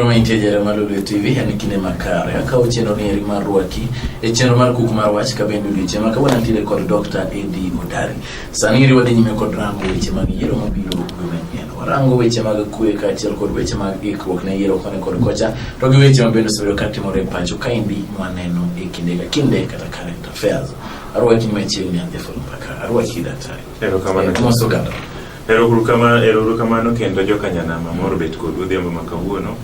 Prominente Jeremiah Lulu TV en kinde makare akawo chenro ni eri mar rwaki e chenro mar kuk mar wach ka bende odiochieng' ma kawuono antiere kod Dr. Eddie Odari. Sani iri wadhi nyime kod rango weche mag yiero mabiro warango weche mag kwe kaachiel kod weche mag ikruok ne yiero koni kod kocha to gi weche mabende osebedo ka timore e pacho kaendi mwaneno e kinde ka kinde kata current affairs arwaki ni machiegni an jaful mpaka arwaki daktari erokamano kendo jokanyanama moro bet kod odhiambo ma kawuono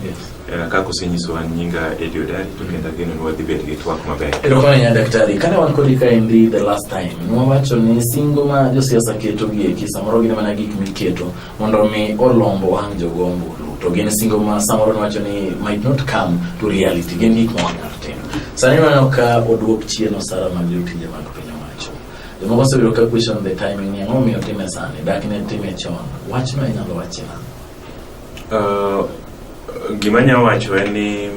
Eh, kaka osenyisowa nyinga Eddie Odari to kendo ageno ni wadhi bedo gi twak maber. Erokamano ahinya daktari. Kane wan kodi kaendi the last time, nwawacho ni singo ma josiasa keto gi eki samoro gin mana gik miketo mondo mi olombo wang' jogo ombulu. To gin singo ma samoro nwacho ni might not come to reality. Gin gik ma wanyalo timo. Sani waneno ka oduok chien osara mag jotije mag piny owacho. Jomoko osebedo ka question the timing ni ang'o miyo time sani, dak ne time chon. Wachno inyalo wachi nang'o? Uh, gima nya wacho en ni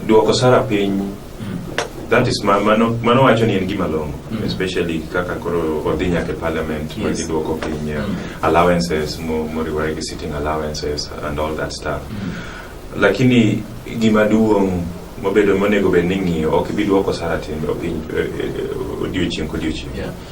duoko sara piny mm. that is ma, mano, mano wacho ni en gima longo mm. especially kaka koro odhi nyaka e parliament yes. magi duoko piny uh, mm. allowances moriwore gi sitting allowances and all that stuff mm. lakini gima duong' mobedo monego bed ni ng'iyo ok ibi duoko sara timbe piny eh, eh, odiochieng' kodiochieng' yeah.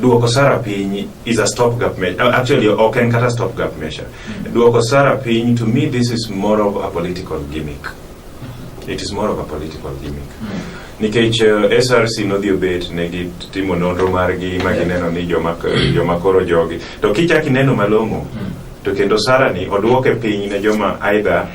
duoko sara piny is a stop gap measure. Uh, actually, ok en kata stop gap measure. Mm. Duoko sara piny, to me, this is more of a political gimmick. Mm-hmm. It is more of a political gimmick. Mm. Nikech uh, SRC nodhi obet ne gitimo nonro margi ma gineno ni joma, joma koro jogi. To kichak ineno malong'o, mm. to kendo sara ni oduoke piny ne joma aidha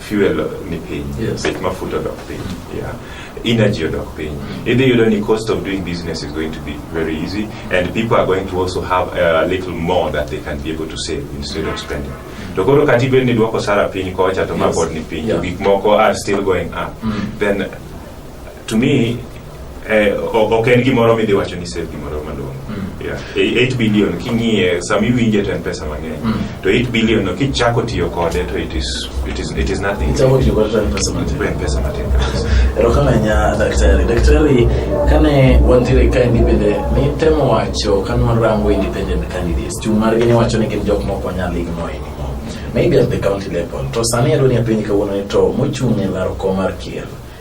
fuel ni piny yes. bech mafuta odok piny mm. yeah. energy odok piny idhi yudo ni cost of doing business is going to be very easy and people are going to also have a little more that they can be able to save instead of spending to koro kati bed ni dwoko sara piny kocha to mapod ni piny yeah. gik moko are still going up mm. then to me Eh, ok en gimoro midhi wacho ni save gimoro maduong' 8 hmm. e, billion king'iye sama iwinje to en pesa mang'eny hmm. to 8 billion no kichako tiyo kode to it is, it is, it is nothing ichako tiyo kode to en pesa matin en pesa matin erokamanya daktari daktari kane wantiere ka ni bende nitemo wacho kane warango independent candidates chung' margi ni wacho ni gin jok mok wanyal igno anymore maybe at the county level to sani adwa ni apenji kawuono ni to mochung' e laro kom mar kier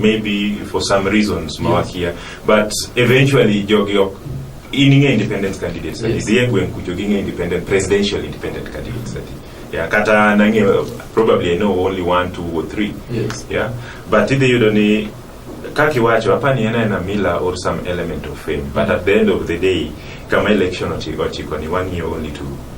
maybe for some reasons mawakia but eventually jogi ok in ing'e independent candidates adi Yes. dhi e gweng' kucho ging'e independent presidential independent candidates adi yeah, kata nang'e probably i know only one two or three Yes. yeah but idhi yudo ni kaka iwacho apani en aena mila or some element of fame but at the end of the day kama election ochi- ochiko ni wang'iyo only to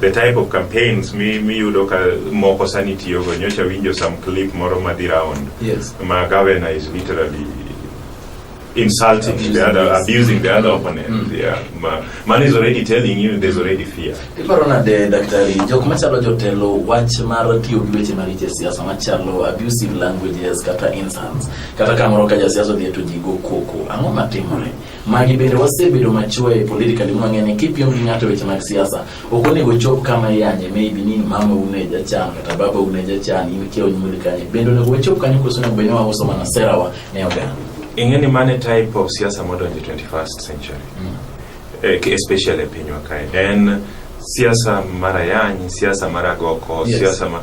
the type of campaigns mi miyudo ka moko sani tiyogo nyocha winjo some clip moro madhi round yes. ma governor is literally insulting abusing the other yes. abusing the other opponent mm. yeah ma, man is already telling you there's already fear iparo nade daktari jok machalo jotelo wach mar tiyo gi weche maricho e siasa machalo abusive languages kata insults kata kamoro ka jasiasa odhi to jigo koko ang'o matimore Magi bende wasebedo machwe politically mwang'e ni kipiem gi ng'ato weche mag siasa ok onego chop kama iyanye maybe ni mama une jachan kata baba une jachan in kia onyuoli kanye bende onego wachop kanyo koso onego bed ni wauso mana serawa ne oganda ing'e ni mane type of siasa modonjo 21st century mm. Eh, especially e pinywa kae en siasa mar ayany siasa mar agoko yes. siasa ma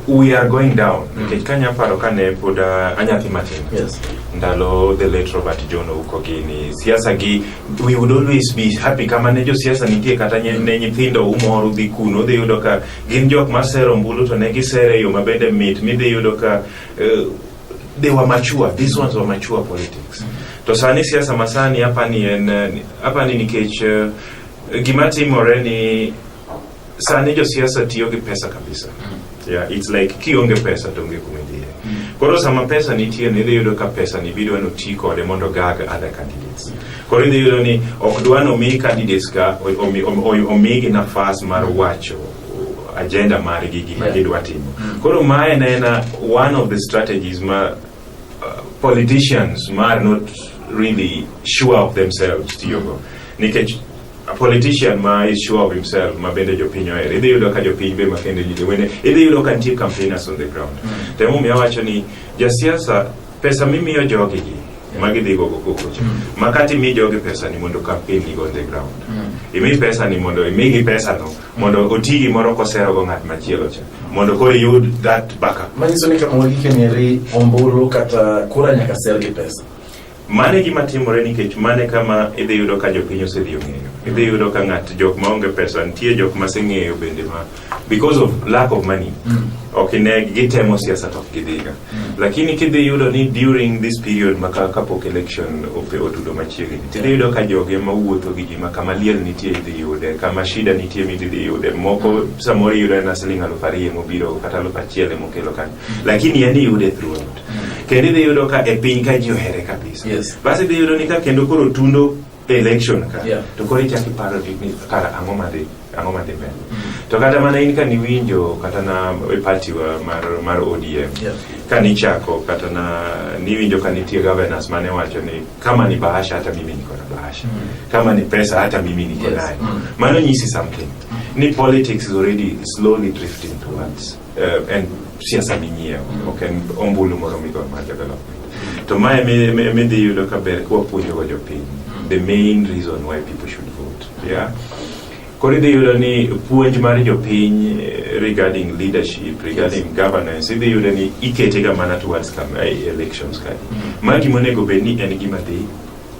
We are going down mm. nikech kanya aparo kane pod uh, anyathi matin yes. ndalo the late Robert John Ouko gini siasa gi we would always be happy kama ne jo siasa nitie kata ne nyithindo umor udhi kuno udhi yudo ka gin jok masero mbulu to ne gisere yo mabende mit midhi yudo ka uh, they were mature these ones were mature politics mm -hmm. to sani siasa masani hapa ni en uh, hapa ni nikech uh, gima timore ni Sani jo siasa tiyo gi pesa kabisa. Mm. Yeah, it's like kionge pesa to onge kuma idhiye. Mm. Koro sama pesa nitie ni idhi yudo ka pesa ni bidwa no ti kode mondo gag other candidates. Koro idhi yudo ni ok dwa no mi candidates ka omi, omi, omi gi nafas mar wacho agenda margi gima gidwa timo. Mm. Koro ma en ena one of the strategies ma uh, politicians ma are not really sure of themselves tiyogo. Nikech a politician ma is sure of himself ma bende jopiny ohero idhi yudo ka jopiny be makende ji wene idhi yudo ka nitie campaigners on the ground mm. to emomiyo awacho ni jasiasa pesa mimiyo jogi gi mm. ma gidhi gogo kokocha mm. ma kata imi jogi pesa ni mondo campaign ni go on the ground mm. imi pesa ni mondo imigi pesa no mm. mondo oti gimoro kosero go ng'at machielo cha mm. mondo koro iyud that backup manyiso ni kama wagike nyeri ombulu kata kura nyaka ser gi pesa Mano e gima timore nikech mano e kama idhi yudo ka jopiny osedhi ong'eyo. Idhi yudo ka ng'at jok ma onge pesa nitie jok ma seng'eyo bende ma because of lack of money. Mm. Ok ine gitemo siasa to ok gidhiga. Mm. Lakini kidhi yudo ni during this period ma ka kapok election ope otudo machiegni. Tidhi yudo ka joge ma wuotho gi ji ma kama liel nitie idhi yude, kama shida nitie mi idhi yude. Moko mm. samoro yudo na siling' aluf ariyo mobiro kata aluf achiel mokelo kanyo. Mm. Lakini yani yude throughout. kendo idhi yudo ka e piny ka ji ohere kabisa yes. basi idhi yudo ni ka kendo koro tundo election ka yeah. to koro ichak iparo ni kara ang'o madhi ang'o madhi mbele mm -hmm. to kata mana in ka niwinjo kata na e party wa mar, mar ODM yeah. ka nichako kata na niwinjo ka nitie governors mane wacho ni kama ni bahasha hata mimi niko na bahasha mm -hmm. kama ni pesa hata mimi niko yes. nayo mm -hmm. mano nyisi something mm -hmm. ni politics is already slowly drifting towards en siasa minyiewo ok en ombulu moro migoyo mar development to ma emidhi yudo ka ber kwapuonjogo jopiny the main reason why people should vote yeah? koro idhi yudo ni puonj mar jopiny eh, regarding leadership regarding yes. governance idhi yudo ni iketega mana towards eh, elections kae mm -hmm. ma gimonego bed ni en gima dhi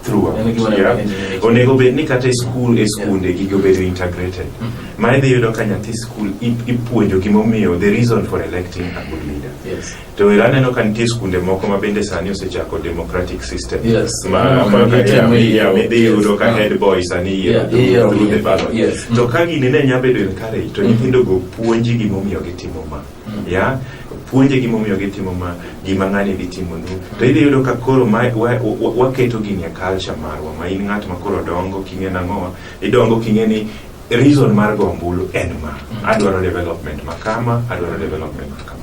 throughout. And we go on yeah. everything in the Onego bed ni kata e skul e skunde yeah. gigo bedo integrated. Mm -hmm. Ma idhi yudo ka nyathi skul ipuonjo gimomiyo the reason for electing a good leader. Yes. To ira neno ka nitie skunde moko ma bende sani osechako democratic system. Yes. Ma mm-hmm. ma ka ya mi ya mi dhi yudo ka mm-hmm. head boy sani yiero yeah. through the ballot. Yes. To mm-hmm. ka gini ne nya bedo encourage to nyithindo go puonji gimomiyo gitimo ma. ya puonje gimomiyo gitimo ma gima ng'ani dhi timonu to idhi yudo ka koro ma- wa- wa- waketo gini e culture marwa ma in ng'at ma koro dongo king'e nang'owa idongo king'e ni reason mar go ombulu en ma adwaro development ma kama adwaro development ma kama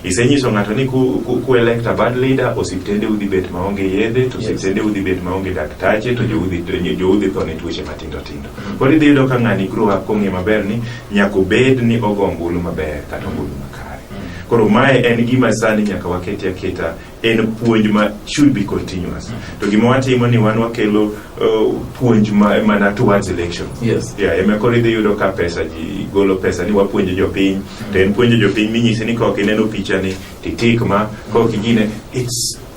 isenyiso ng'ato ni ku, ku, ku elect a bad leader osiptende udhi bet maonge yedhe to Yes. osiptende udhi bet maonge daktache to joudhi joudhi tho ne tuoche matindo tindo Koro idhi yudo ka ng'ani grow up kong'e maber ni nyaka obed ni ogo ombulu maber kata ombulu makare. Koro mae en gima sani nyaka waketi aketa en puonj ma should be continuous. To gima watimo ni wan wakelo uh, puonj ma, mana towards election. Yes. Yeah, ema koro idhi yudo ka pesa ji golo pesa ni wapuonjo jopiny to en puonjo jopiny minyisi ni kaok ineno pichani titik ma kaok igine it's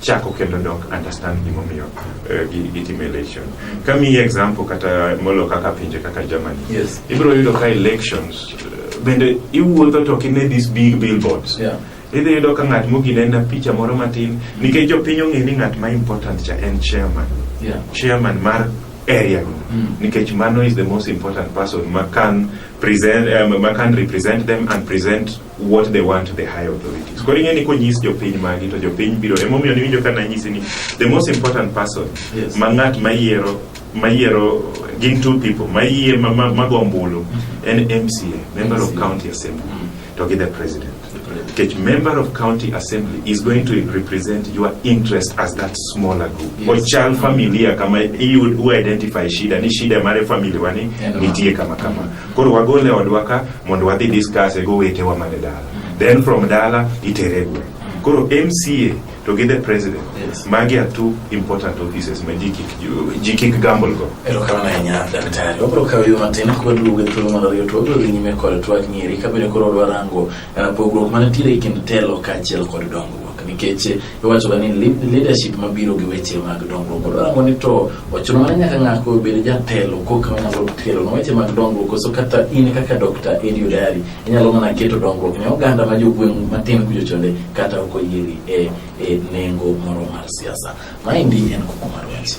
chako kendo dok understand gimomiyo uh, gitimo election. Kamiyi example kata molo kaka pinje kaka Germany. Yes. Ibiro yudo ka elections uh, bende iwuotho to kine these big billboards. Yeah. Idhi yudo ka ng'at mogine en picha moro matin nikech jopiny ong'e ni ng'at ma important cha en chairman. Yeah. Chairman mar area no. Mm. Nikech mano is the most important person ma kan present um, ma kan represent them and present what they want to the high authorities. Koro ing'e ni konyis jopiny magi to jopiny biro emomiyo niwinjo ka nanyisi ni the most important person yes. ma ng'at mayiero mayiero gin two people mayie mago ombulu mm-hmm. en MCA member of county assembly mm-hmm. to gi the president Teach member of county assembly is going to represent your interest as that smaller group yes. ochal familia kama iyud u identify shida ni shida mare family wani nitie kama kama Koro wagole odwa ka mondo wadhi discuss e gowetewa man e dala. Then from dala itere e gweng'. Koro MCA to gi the president Yes. magi are two important offices ma ji kik ji kik gamble go. Erokamano ahinya daktari. Wabiro kawo yo matin kwaduogo e thuolo mar ariyo to wabiro dhi nyime kod twak nyiri kabende koro dwarango eh, pogruok manitiere e kind telo kaachiel kod dongruok nikech Iwachoga ni leadership mabiro gi weche mag dongruok. Koro rango ni to ochuno mana nyaka ng'ako obed jatelo koka onyalo telo na weche mag dongruok koso kata in kaka Dr. Edio Dari inyalo mana keto dongruok ne oganda ma jogweng' matin kujo chonde kata ok oyieri e, e nengo moro mar siasa. Maendi en kuku mar wach.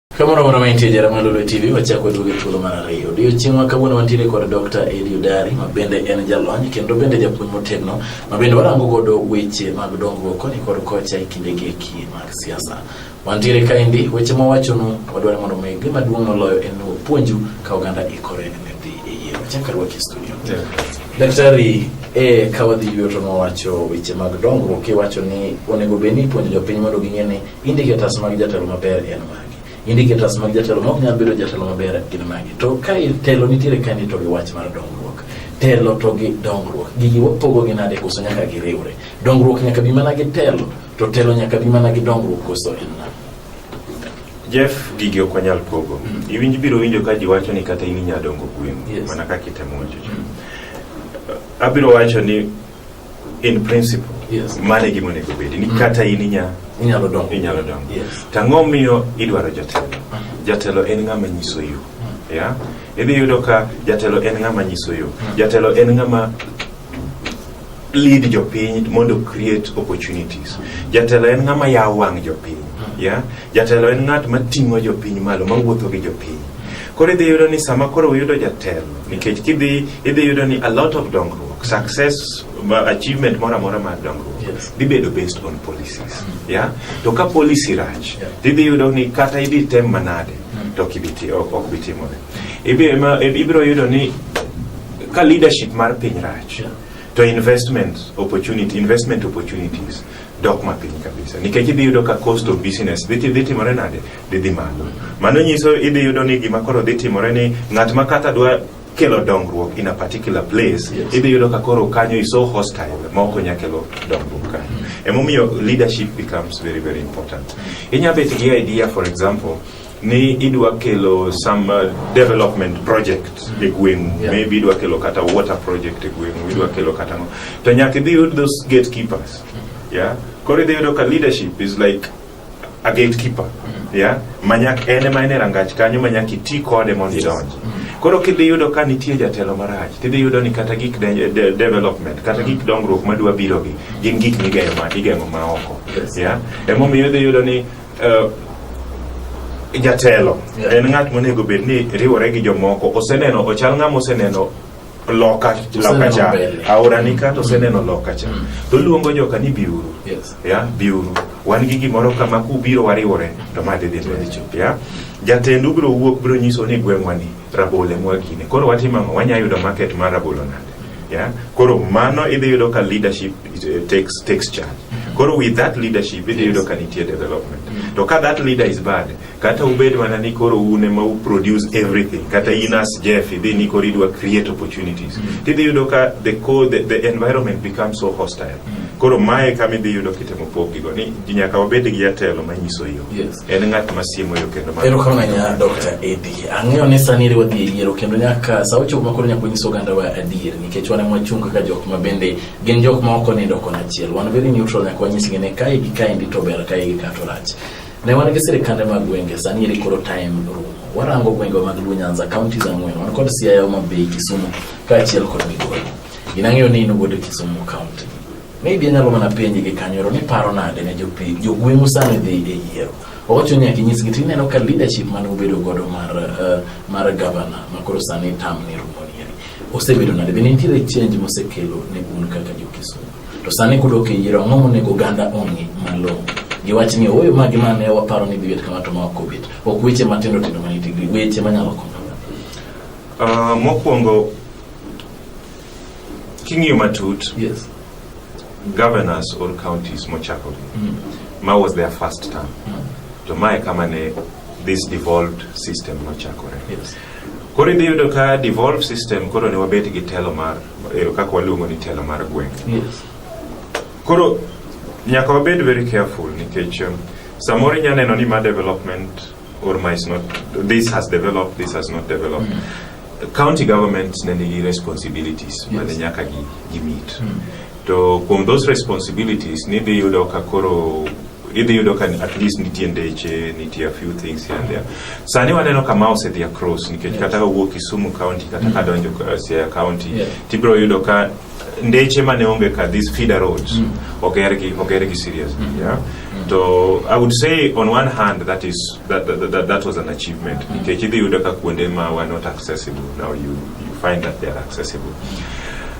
Kamoro moro mantie jara Malolo TV wachako waduogo e thuolo mar ariyo. Odiochieng' ma kawuono wantiere kod Dr. Eddie Odari ma bende en jalony kendo bende japuonj motegno ma bende warango godo weche mag dongruok koni kod kocha e kinde gi eki mag siasa. Wantiere kaendi weche ma wachonu wadwaro mondo mi gima duong' moloyo en ni puonju ka oganda ikore ne dhi e yiero. Chaka rwaki studio. Yeah. Daktari e ka wadhi yuto ma wacho weche mag dongruok iwacho ni onego bed ni ipuonjo jopiny mondo ging'e ni Indicators mag jatelo maber en magi. Indicators mag jatelo ma ok nyal bedo jatelo maber gin magi. To ka telo nitiere ka ni to gi wach mar dongruok. Telo to gi dongruok. Gigi wapogogi nade koso nyaka giriwre. Dongruok nyaka bi mana gi telo to telo nyaka bi mana gi dongruok koso en nade. Jeff gigi ok wanyal pogo. Mm. Iwinj biro winjo ka ji wacho ni kata in inyalo dongo gweng' Yes. mana kaka itemo wacho. cha. Abiro wacho ni in principle yes. mane gima onego bedi ni mm. kata in inya inyalo dongo inyalo dongo yes. tang'o miyo idwaro jatelo mm. jatelo en ng'ama nyiso yo mm. yeah? idhi yudo ka jatelo en ng'ama nyiso yo mm. jatelo en ng'ama lead jopiny mondo create opportunities jatelo en ng'ama yawo wang' jopiny mm. yeah? Jatelo en ng'at ma ting'o jopiny malo, ma wuotho gi jopiny. Koro idhi yudo ni sama koro uyudo jatelo, nikech kidhi idhi yudo ni a lot of dongruok, success, ma- achievement moro amora mar dongruok Yes. dhi bedo based on policies. Yeah? To ka policy rach, Yeah. to idhi yudo ni kata idhi tem manade, to ok ibi ti- ok ok bi timore. Ibi- ema- Ibiro yudo ni ka leadership mar piny rach, Yeah. to investment opportunity, investment opportunities dok mapiny kabisa nikech idhi yudo ka cost of business dhi dhi timore nade dhi dhi malo mano nyiso idhi yudo ni gima koro dhi timore ni ng'at ma kata dwa kelo dongruok in a particular place yes. idhi yudo ka koro kanyo is so hostile ma ok onya kelo dongruok kanyo emomiyo leadership becomes very very important inya bet gi idea for example ni idwa kelo some uh, development project e gweng'u yeah. maybe idwa kelo kata water project e gweng'u idwa kelo kata ngo to nyaka idhi yud those gatekeepers mm-hmm. yeah koro idhi yudo ka leadership is like a gatekeeper mm-hmm. yeah manyak en ema en e rangach kanyo manyak iti kode mondo idonj mm-hmm. koro kidhi yudo ka nitie jatelo marach tidhi yudo ni kata gik de, de, development kata gik dongruok madwa birogi gin gik migeng'o ma, ma oko yes. yeah emomiyo idhi yudo ni Uh, jatelo yeah. en ng'at monego bed ni riwore gi jomoko oseneno ochal ng'ama oseneno loka loka cha aora ni kata oseneno loka cha mm. to luongo joka ni biuru yes. ya biuru wan gi gimoro kama kubiro wariwore to ma dhi dhi ya jatendu biro wuok biro nyiso ni gweng'wa ni rabole mwagine koro watimo ang'o wanya yudo market mar rabolo nade ya koro mano idhi yudo ka leadership it takes, takes charge koro with that leadership idhi yudo ka nitie development mm. to ka that leader is bad kata ubed mana ni koro un ema u produce everything kata in as jeff idhi ni koro idwa create opportunities mm. tidhi yudo ka the, co, the, the environment becomes so hostile mm. koro mae kama idhi yudo kitemo pogigo ni nyaka wabed gi jatelo manyiso yo yes. en ng'at masiemo yo kendo erokamanya dr edi ang'eyo ni sani iri wadhi e yiero kendo nyaka sa ochopo makoro nyaka wanyis ogandawa adier nikech wan emwachung kaka jok ma bende gin jok ma ok onindo kon achiel wan very neutral nyaka wanyisgi ni kae gi kaendi to ber kae gi ka to rach ne wan gi sirikande mag gwenge sani eri koro time rumo warango gwenge mag Luo Nyanza counties ang'wen wan kod Siaya Homa Bay Kisumu kaachiel kod Migori gin ang'eyo ni in wuod Kisumu county maybe anyalo mana penji gi kanyoro ni paro nade ne jopiny jogweng'u sani dhi e yiero owacho nyaka inyisgi to ineno ka leadership mane ubedo godo mar uh, mar governor makoro sani tam ni rumo Osebedo nade? Be nitiere change mosekelo ne un kaka jokisumu? To sani kudok e yiero, ang'o monego oganda ong'i malong'o? Giwach ni ooyo magi ma ne waparo ni dhibet kama to ma ok obet. Ok weche matindo tindo ma nitie gi weche manyalo konyo. Uh, mokwongo king'iyo matut yes. governors or counties mochakore mm. ma was their first term mm. to mae kama ne this devolved system nochakore yes. Koro idhi yudo ka devolve system koro ne wabet gi telo mar eh, kaka waluongo ni telo mar gweng'. Yes. Koro nyaka wabed very careful nikech um, samoro inya neno ni ma development or ma is not this has developed this has not developed. Mm. County government ne nigi responsibilities yes. mane nyaka gi, gi meet. Mm. To kuom those responsibilities nidhi yudo ka koro idhi yudo ka at least nitie ndeche nitie a few things here and there sani waneno kama osedhi across nikech kata ka wuok Kisumu county kata ka donjo uh, Siaya county Yeah. tibiro yudo ka ndeche mane onge ka these feeder roads Mm. ogergi ogergi serious Mm. yeah to i would say on one hand that is that, that, that, that was an achievement nikech idhi yudo ka kuonde ma were not accessible now you, you find that they are accessible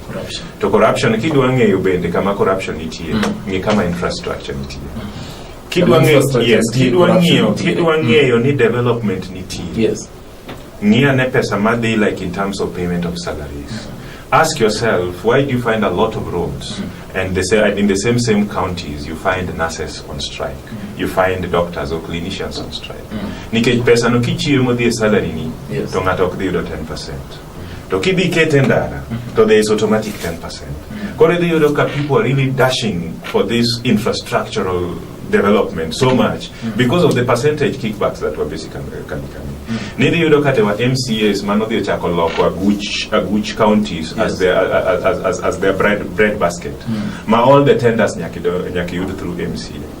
corruption. To corruption kidwa ng'eyo bende kama corruption nitie, mm. ng'e kama infrastructure nitie. Mm. Kidwa ng'eyo, yes, kidwa ng'eyo, kidwa mm. ng'eyo ni development nitie. Yes. Ng'ia ne pesa madhi like in terms of payment of salaries. Mm. Ask yourself, why do you find a lot of roads? Mm. And they say, in the same same counties, you find nurses on strike. Mm. You find doctors or clinicians on strike. Mm. Nikech pesa no kichiemo dhi salary ni, yes. to ng'ato ok dhi yudo 10%. To kidhi kete ndara, to there is automatic 10%. Koro idhi yudo ka people are really dashing for this infrastructural development so much mm. because of the percentage kickbacks that were basically coming. Mm. Nidhi yudo kate wa MCAs mano dhi ochako loko aguch, aguch counties yes. as, their, as, as, as, as their bread, bread basket. Mm. Ma all the tenders nyaki, nyaki yud through MCA.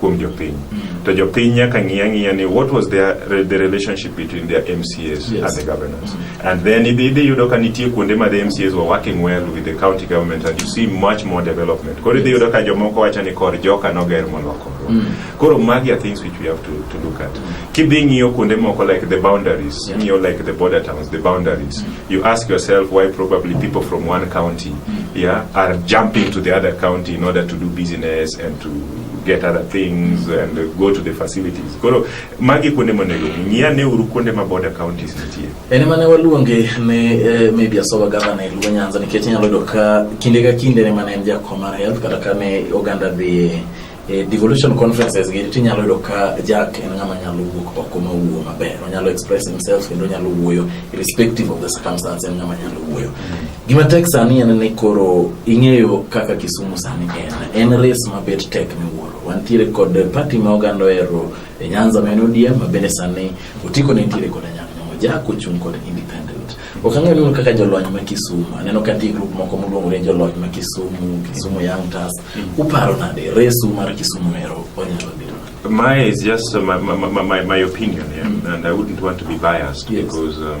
kuom jopiny mm. to jopiny nyaka ng'i ang'iya ni what was their, the relationship between their MCAs yes. and the governors mm. and then idhi idhi yudo ka nitie kuonde ma the MCAs were working well with the county government and you see much more development koro idhi yudo ka jomoko wacho ni kor joka noger moloko mm. koro magi are things which we have to, to look at mm. kidhi ng'iyo kuonde moko like the boundaries yeah. ng'iyo like the border towns the boundaries mm. you ask yourself why probably people from one county mm. yeah are jumping to the other county in order to do business and to get other things and go to the facilities. Koro magi kuonde monego ng'ia ne uru kuonde ma border counties nitie. En mane waluonge ne eh, maybe asoba gavana e Luo Nyanza nikech inyalo yudo ka kinde ka kinde ne mane en jakom mar health kata ka ne oganda dhi e devolution conferences gi tinyalo yudo ka Jack en ng'ama nyalo wuok oko ma wuo maber onyalo express himself kendo onyalo wuoyo irrespective of the circumstance en ng'ama nyalo wuoyo mm -hmm. Gima tek sani en ni koro ing'eyo kaka Kisumu sani en. En res mabet tek miwuoro. Wantiere kod pati ma oganda ohero e Nyanza ma en ODM ma bende sani otiko ne nitiere kod Anyang' Nyong'o Jack ochung' kod independent. Ok ang'eyo neno kaka jolony ma Kisumu. Aneno ka nitie grup moko moluongore jolony ma Kisumu, Kisumu Young Turks. Mm. Uparo nade resu mar Kisumu ero onyalo biro? My is just uh, my, my, my, my opinion, yeah? mm. and I wouldn't want to be biased yes. because um,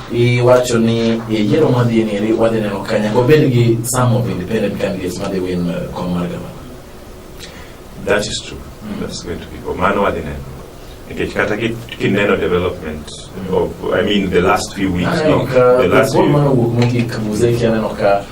Iwacho ni e yiero madhi nieri wadhi neno ka nyaka obed gi some of independent candidates madhi win uh, kom mar gavana. That is true. Mm. That's going to be go. Mano wadhi neno. Nikech kata kineno development mm. of, I mean the last few weeks. Aneno ka, the last few. Mano wuok mogik muzeki aneno ka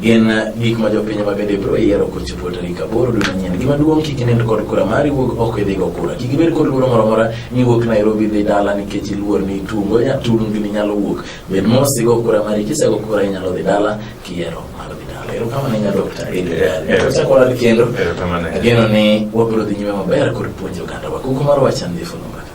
Gin gik ma jopiny ma bende biro yiero kochopo tarik aboro dwe manyien. Gima duong' kik inend kod kura mari wuog oko idhi go kura. Kik ibed kod luoro moro amora ni wuok Nairobi dhi dala nikech iluor ni tungo tungni nyalo wuok. Bed mos igo kura mari kisego kura inyalo dhi dala kiyiero mar dhi dala. Erokamano ahinya Dr. Erokamano kendo. Ageno ni wabiro dhi nyime maber kod puonjo oganda wa. Kuku mar wacha ndhifu no mbaka.